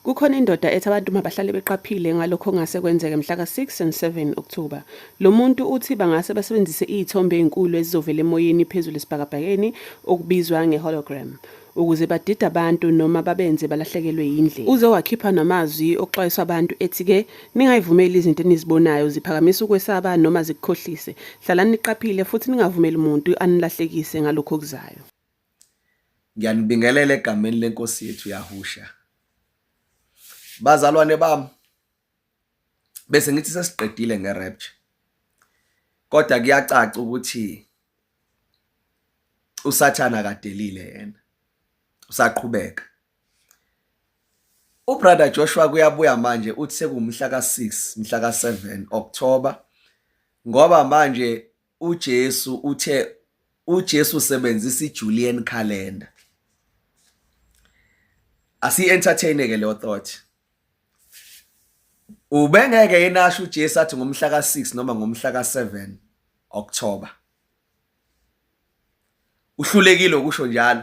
Kukhona indoda ethi abantu mabahlale beqaphile ngalokho okungase kwenzeke mhla ka-6 and 7 October. Lo muntu uthi bangase basebenzise iy'thombe ey'nkulu ezizovela emoyeni phezulu esibhakabhakeni okubizwa nge-hologram. ukuze badide abantu noma babenze balahlekelwe yindlela. Uze wakhipha namazwi okuxwayisa abantu ethi-ke ningayivumeli izinto enizibonayo ziphakamisa ukwesaba noma zikukhohlise. Hlalani niqaphile futhi ningavumeli muntu anilahlekise ngalokhu okuzayo. Ngiyanibingelela egameni leNkosi yethu Yahusha. Bazalwane bami, bese ngithi sesiqedile nge-rapture kodwa kuyacaca ukuthi usathana kadelile yena usaqhubeka ubrother Joshua kuyabuya manje uthi sekumhla ka6 mhla ka7 October ngoba manje uJesu uthe uJesu usebenzisa iJulian calendar asi entertain ke leyo thought ubengeke yenasho uJesu athi ngomhla ka6 noma ngomhla ka7 October uhlulekile ukusho njalo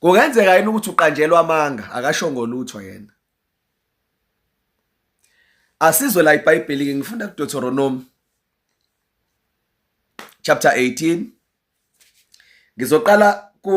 kungenzeka yini ukuthi uqanjelwa amanga akasho ngolutho yena asizwe la ibhayibheli ke ngifunda kuDeuteronomy chapter 18 ngizoqala ku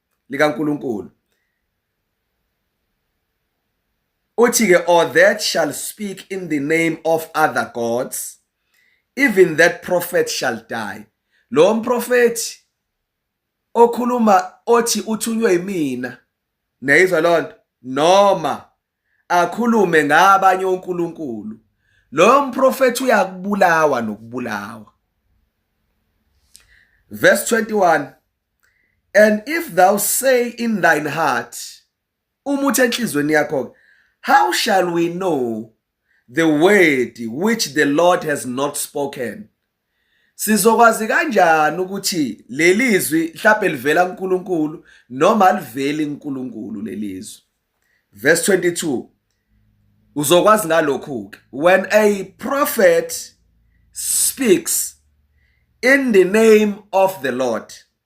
likaNkuluNkulu uthi ke or that shall speak in the name of other gods even that prophet shall die lo mprofethi okhuluma othi uthunywe yimina neyizwa lonto noma akhulume ngabanye onkulunkulu loyo mprofethi uyakubulawa nokubulawa verse 21 and if thou say in thine heart uma uthi enhlizweni yakho how shall we know the word which the lord has not spoken Sizokwazi kanjani ukuthi leli zwi mhlawumbe livela kuNkulunkulu noma aliveli kuNkulunkulu leli zwi? Verse 22 Uzokwazi ngalokhu ke when a prophet speaks in the name of the Lord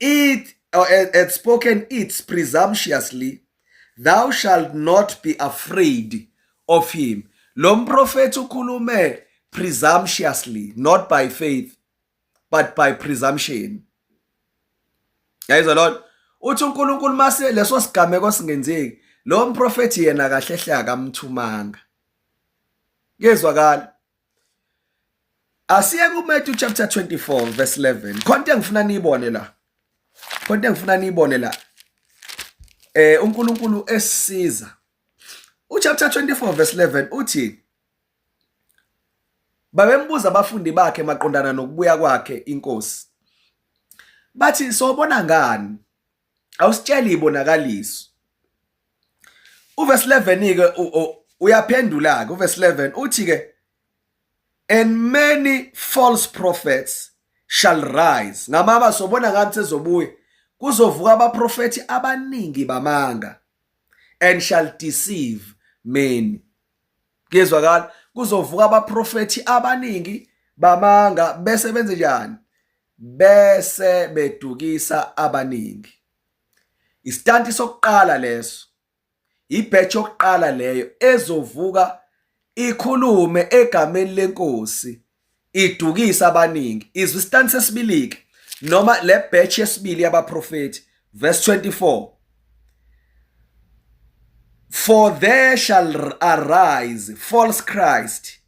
It or had spoken it presumptuously, thou shalt not be afraid of him. Lo mprofethi ukhulume presumptuously, not by faith, but by presumption. Yayizwa lona uthi uNkulunkulu mase leso sigameko singenzeki, lo mprofethi yena kahle hle akamthumanga. Kuyezwakala. asiye kuMatthew chapter 24 verse 11 khona into engifuna niyibone la khona into engifuna niyibone la eh uNkulunkulu esisiza uchapter 24 verse 11 uthi babembuza abafundi bakhe maqondana nokubuya kwakhe inkosi bathi sobona ngani awusitsheli ibonakaliso uverse 11 ke uyaphendula ke uverse 11 uthi ke and many false prophets shall rise ngamaba sobona ngathi sezobuya kuzovuka abaprofethi abaningi bamanga and shall deceive many kuyezwakala kuzovuka abaprofethi abaningi bamanga bese benze njani bese bedukisa abaningi istanti sokuqala leso ibhetch yokuqala leyo ezovuka ikhulume egameni lenkosi idukisa abaningi izwi istanti sesibilike noma le batch yesibili yabaprofeti verse 24 For there shall arise false Christ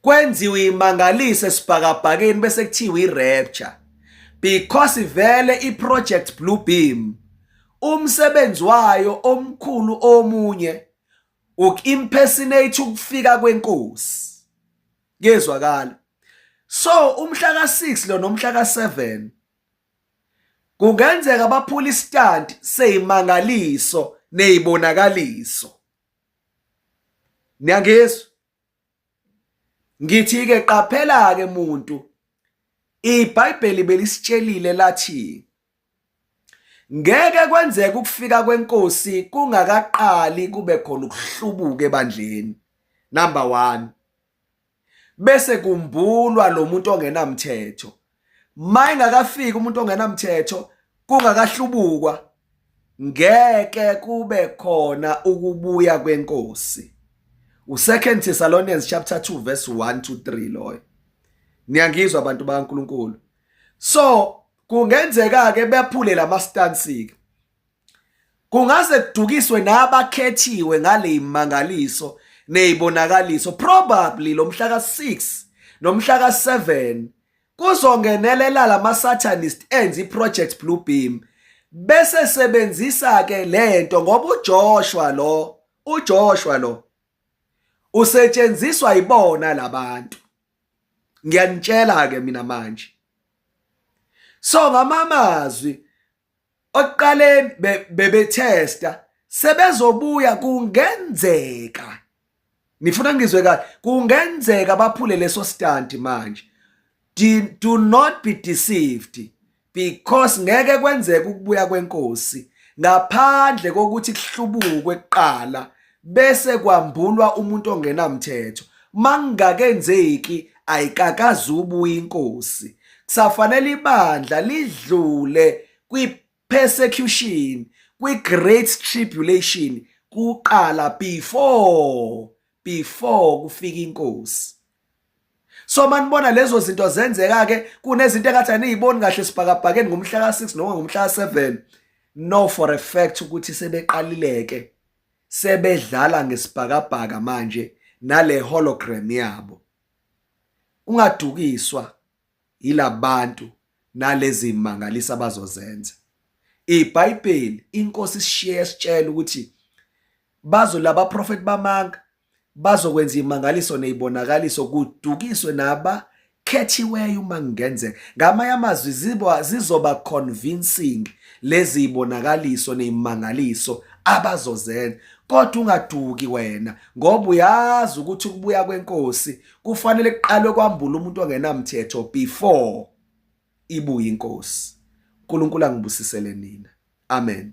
kwenziwe imangaliso esibhakabhakeni bese kuthiwa i-rapture because vele i-project blue beam umsebenzi wayo omkhulu omunye uku-impersonate ukufika kwenkosi kuyezwakala so umhla ka-6 lo nomhla ka-7 kungenzeka baphula isitanti seyimangaliso neyibonakaliso niyangizwa ngithi ke qaphela ke muntu iBhayibheli belisitshelile lathi ngeke kwenzeke ukufika kwenkosi kungakaqali kube khona ukuhlubuka ebandleni number 1 bese kumbulwa lo muntu ongenamthetho mayingakafiki umuntu ongenamthetho kungakahlubukwa ngeke kube khona ukubuya kwenkosi uSecond Thessalonians chapter 2 verse 1 to 3 loyo niyangizwa abantu bakaNkuluNkulu so kungenzeka ke bephule lama stance ke Kungase kudukiswe nabakhethiwe ngaleyimangaliso nezibonakaliso probably lomhla ka6 nomhla ka7 kuzongenelela lamasatanist enzi project blue beam bese sebenzisa ke lento ngoba uJoshua lo uJoshua lo usetshenziswa ibona labantu ngiyanitshela ke mina manje so ngamamazwi okuqaleni bebethesta sebezobuya kungenzeka nifuna ngizwe kahle kungenzeka baphule leso stand manje do not be deceived because ngeke kwenzeke ukubuya kwenkosi ngaphandle kokuthi kuhlubukwe kuqala bese kwambulwa umuntu ongenamthetho mangingakenzeki ayikakazi ubuya inkosi kusafanele ibandla lidlule kwi-persecution kwi-great tribulation kuqala before before kufika inkosi so manibona lezo zinto zenzeka ke kunezinto engathi aniyiboni kahle sibhakabhakeni ngomhla ka-6 noma ngomhla ka-7 no for a fact ukuthi sebeqalileke sebedlala ngesibhakabhaka manje nale hologram yabo ungadukiswa yilabantu nalezi mangalisa bazozenza iBhayibheli inkosi isishiye sitshela ukuthi bazo laba prophet bamanga bazokwenza imangaliso nezibonakaliso kudukiswe naba khethiweyo uma kungenzeka ngamanye amazwi ziba zizoba convincing lezi ibonakaliso nezimangaliso abazozenza kodwa ungaduki wena ngoba uyazi ukuthi ukubuya kwenkosi kufanele kuqalwe kwambula umuntu ongenamthetho before ibuye inkosi uNkulunkulu angibusisele nina amen